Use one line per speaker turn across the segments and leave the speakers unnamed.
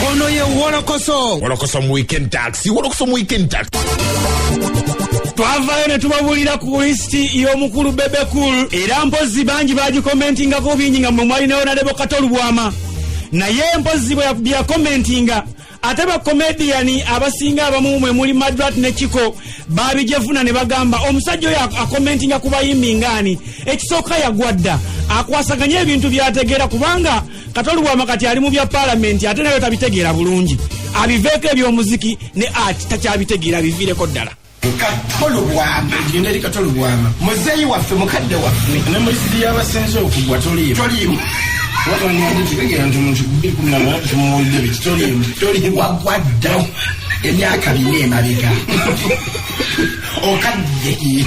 ono ye wolokoso wolokoso mu weekend
tax wolokoso mu weekend tax twavayo
ne tubabuulira ku lisiti y'omukulu bebekul era mpozzi bangi bagikomentingako bingi nga mwe mwali nayo nalebo kato lubwama naye mpozzi byakomentinga ate bakomediyani abasinga abamu mwe muli madrat ne kiko babijefuna ne bagamba omusajja oyo akomentinga ku bayimbi ngaani ekisooka yagwadda akwasaganye ebintu byategeera kubanga katoli bwama kati ali mu bya palamenti ate nayo tabitegeera bulungi abiveeko ebyomuziki ne ati takyabitegeera biviireko ddala katolubwama
egenda eri katolubwama muzeeyi waffe mukadde waffe ne mulisizi
yabasinze okugwa toliimu toliimu wagwaddawo
emyaka bina emabega okadde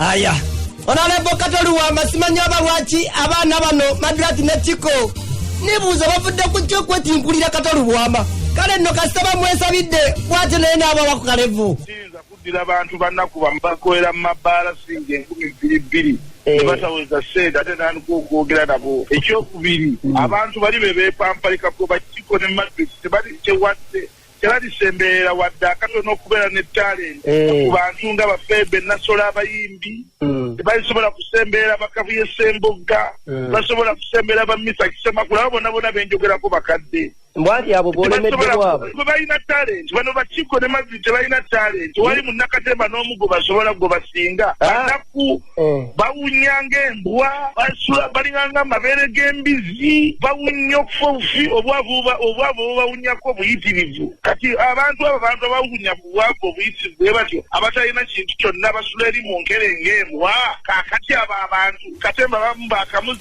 aya onalebo katoliwa amasima nyo aba lwaki abaana bano madrati ne kiko nibuuza bavudde ku kyo kwetinkulira katolubwama kale nno kasita bamwesabidde bwatyo naye naabawa ku kalevu siyinza kuddira bantu
bannaku bamu bakolera mu mabbaala singa enkumi bbiri bbiri ne bataweza ssente ate nandika okwogera nabo ekyokubiri abantu bali be beepampalika kuba kiko ne matrix tebali kyewadde tebalisemberera wadde akatono okubeera ne talenti eh. ku bantu nga bafeebe nasola abayimbi hmm. tebalisobola kusemberera bakabuye sembogga eh. basobola kusemberera bamisa kisemakula abo bona bona benjogerako bakadde mbwati abo
bolemeddewabwe balina talenti bano bakiko ne mazzi tebalina talenti wali munakatemba n'omugo basobola gwe basinga ah. anaku Eh. bawunya ng'embwa basula balinganga amabeere g'embizi bawunya okufa obufi obwavu obwavu bubawunyako obuyitirivu kati abantu abo bantu abawunya
bubwavu obuyitirivu bwe batyo abatalina kintu kyonna basula eri mu nkere ng'embwa kakati abo abantu katemba bamu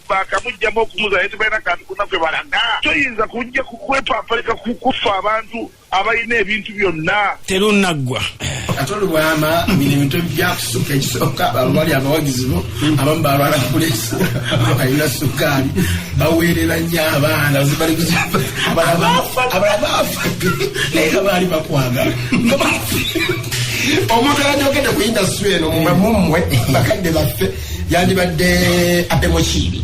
bakamujjamu okumuza naye tebalina kantu kuna kwe balaga toyinza kujja kukwepapalika kukufa abantu abalina ebintu byonna terunnaggwa kati olubwama
bino ebintu ebyakusukka ekisooka bali abawagizi bo abamu balwala kulesi balina sukaali baweerera nnyo abaana abalabaafa naye nga baali bakwagala
omuntu ayajogedde ku indasitry eno mumwe bakadde baffe yandibadde abemokiibi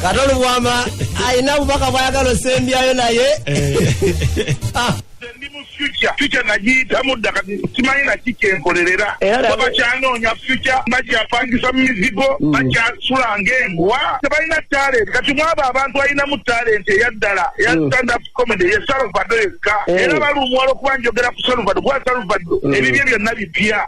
kati olubwama alina bubaka bwayagala osembyayo naye ah.
ndi mu future future nagiyitamu dda kati simanyi naki kyenkolerera kuba bakyanoonya future bakyapangisa mu mizigo mm. bakyasula ng'embwa tebalina talent kati mwabo abantu alinamu talent eyaddala eya mm. stand up comedy ye salvado yekka eh. era balumwa olwokuba njogera ku salvado kuba salvado mm. ebibye byonna bipya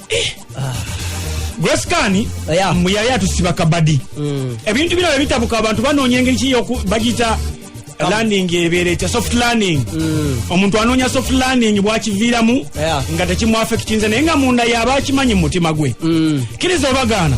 gwesikani Yeah. mbu yali atusiba kabadi Mm. ebintu bino bebitabuka abantu banoonya engeri ki yoku- bagiyita landing ebeera etya soft landing omuntu anoonya soft landing bwakiviiramu Mm. Yeah. Mm. nga tekimwafekitinze naye nga munda yaba akimanyi mu mutima gwe kiriza obagaana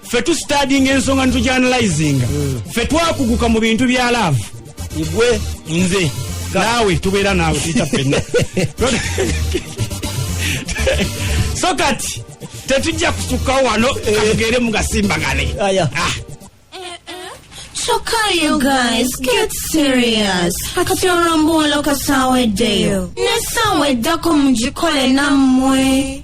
ffe tusitadinga ensonga nitujanalizinga hmm. ffe twakuguka mu bintu bya laavu igwe
nze
naawe tubeera naawe tuyita ffenna so kati tetujja kusukkawo wano eh. katugeere mugasimbagane
Choka you guys, get serious. Kati olombuulo kasaweddeyo. Ne saawa eddako mugikole nammwe.